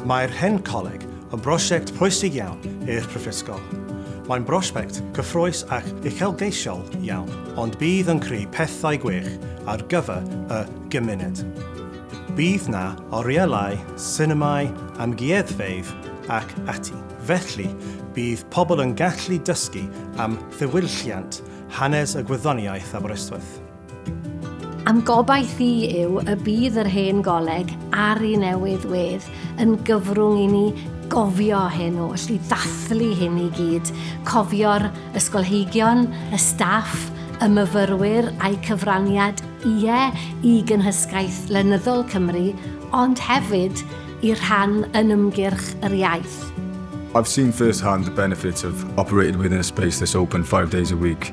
Mae'r Hen Coleg yn brosiect pwysig iawn i'r Prifysgol. Mae'n brosiect cyffrous ac uchelgeisiol iawn, ond bydd yn creu pethau gwych ar gyfer y gymuned. Bydd 'na orielau, sinemâu, amgueddfeydd ac ati, felly bydd pobl yn gallu dysgu am ddiwylliant hanes y gwyddoniaeth Aberystwyth. Am gobaith i yw y bydd yr hen goleg ar i newydd wedd yn gyfrwng i ni gofio hen oll, i ddathlu hyn i gyd, cofio'r ysgolheigion, y staff, y myfyrwyr a'u cyfraniad, ie, i gynhysgaeth lenyddol Cymru, ond hefyd i'r rhan yn ymgyrch yr iaith. I've seen first hand the benefits of operating within a space this open five days a week.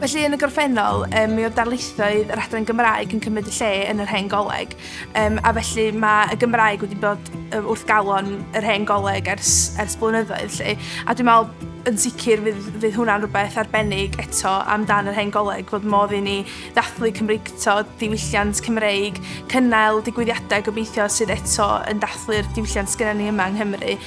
Felly, yn y gorffennol, um, mi oedd darlithoedd yr adran Gymraeg yn cymryd y lle yn yr hen goleg, um, a felly mae y Gymraeg wedi bod wrth galon yr hen goleg ers, ers blynyddoedd. Lle. A dwi'n meddwl yn sicr fydd, fydd hwnna'n rhywbeth arbennig eto amdan yr hen goleg fod modd i ni ddathlu Cymreicto, diwylliant Cymreig, cynnal digwyddiadau gobeithio sydd eto yn dathlu'r diwylliant sgynna ni yma yng Nghymru.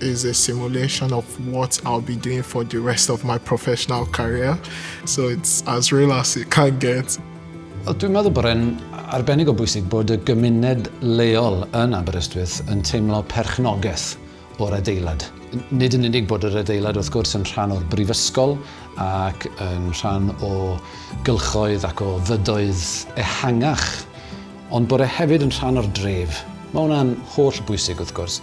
is a simulation of what I'll be doing for the rest of my professional career. So it's as real as it can get. Dwi'n meddwl bod e'n arbennig o bwysig bod y gymuned leol yn Aberystwyth yn teimlo perchnogaeth o'r adeilad. Nid yn unig bod yr adeilad wrth gwrs yn rhan o'r brifysgol ac yn rhan o gylchoedd ac o fydoedd ehangach, ond bod e hefyd yn rhan o'r dref. Mae hwnna'n holl bwysig wrth gwrs.